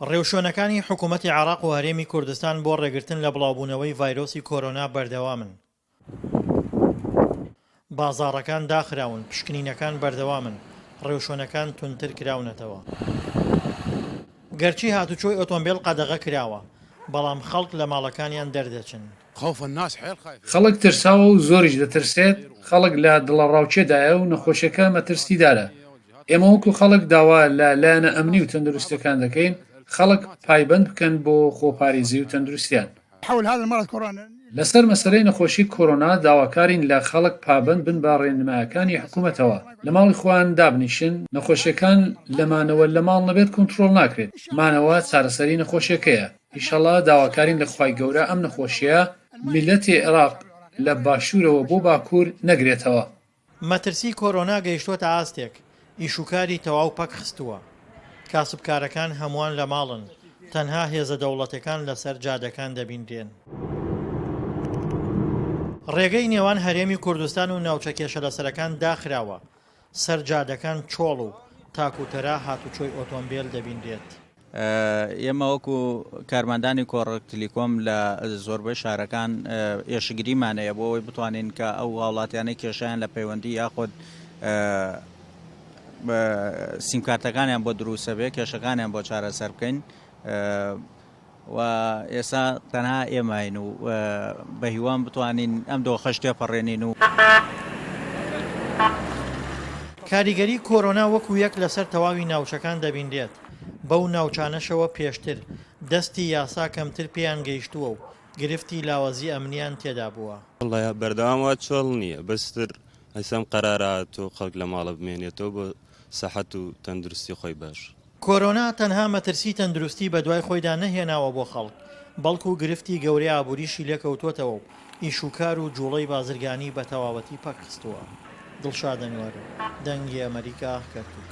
ڕێوشوێنەکانی حکوومەتی عێراق و هەرێمی کوردستان بۆ ڕێگرتن لە بڵاوبوونەوەی ڤایرۆسی کۆرۆنا بەردەوامن. بازاڕەکان داخراون، پشکنینەکان بەردەوامن، ڕێوشوێنەکان توندتر کراونەتەوە. گەرچی هاتوچۆی ئۆتۆمبێل قەدەغە کراوە، بەڵام خەڵک لە ماڵەکانیان دەردەچن. خوف الناس حێل خایفێ. خەڵک ترساوە و زۆریش دەترسێت، خەڵک لە دڵەڕاوکێدایە و نەخۆشیەکە مەترسیدارە. ئێمە وەکو خەڵک داوا لە لایەنە ئەمنی و تەندروستیەکان دەکەین خەڵک پایبەند بکەن بۆ خۆپاریزی و تەندروستیان. حول هذا المرض كورونا. لەسەر مەسەلەی نەخۆشی کۆرۆنا داواکارین لە خەڵک پابەند بن بە ڕێنمایەکانی حکومەتەوە لە ماڵی خۆیان دابنیشن، نەخۆشیەکان لە مانەوە لە ماڵ نەبێت کۆنتڕۆڵ ناکرێت، مانەوە چارەسەری نەخۆشیەکەیە. ئیشەڵا داواکارین لە خوای گەورە ئەم نەخۆشیە میلەتی عێراق لە باشورەوە بۆ باکور نەگرێتەوە. مەترسی کۆرۆنا گەیشتووەتە ئاستێک ئیشوکاری تەواو پەکخستووە، کاسبکارەکان هەمووان لە ماڵن، تەنها هێزە دەوڵەتەکان لەسەر جادەکان دەبینرێن. ڕێگەی نێوان هەرێمی کوردستان و ناوچە کێشەلەسەرەکان داخراوە. سەر جادەکان چۆڵ و تاک و تەرا هاتوچۆی ئۆتۆمبێل دەبینرێت. ئێمە وەکو کارمەندانی کۆڕەک تلیکۆم لە زۆربەی شارەکان ئێشکگریمان هەیە بۆ ئەوەی بتوانین کە ئەو هاوڵاتیانەی کێشیان لە پەیوەندی یاخود سیمکارتەکانیان بۆ دروستە بێ کێشەکانیان بۆ چارەسەر بکەین و ئێستا تەنها ئێماین و بە هیوام بتوانین ئەم دۆخەش تێپەڕێنین و. کاریگەری کۆرۆنا وەکو یەک لەسەر تەواوی ناوچەکان دەبینرێت، بەو ناوچانەشەوە پێشتر دەستی یاسا کەمتر پێیان گەیشتووە و گرفتی لاوازی ئەمنیان تێدا بووە. وەڵا بەردەوام وا چۆڵ نییە بەس تر ئەیسا ئەم قەرارە هاتووە خەڵک لە ماڵە بمێنێتەوە بۆ سەحەت و تەندروستی خۆی باش. کۆرۆنا تەنها مەترسی تەندروستی بەدوای خۆیدا نەهێناوە بۆ خەڵک، بەڵکو گرفتی گەورەی ئابووریشی لێکەوتووەتەوە و ئیشوکار و جوڵەی بازرگانی بەتەواوەتی پەکخستووە. دڵشاد ئەنوەر، دەنگی ئەمەریکا، کەرکوک.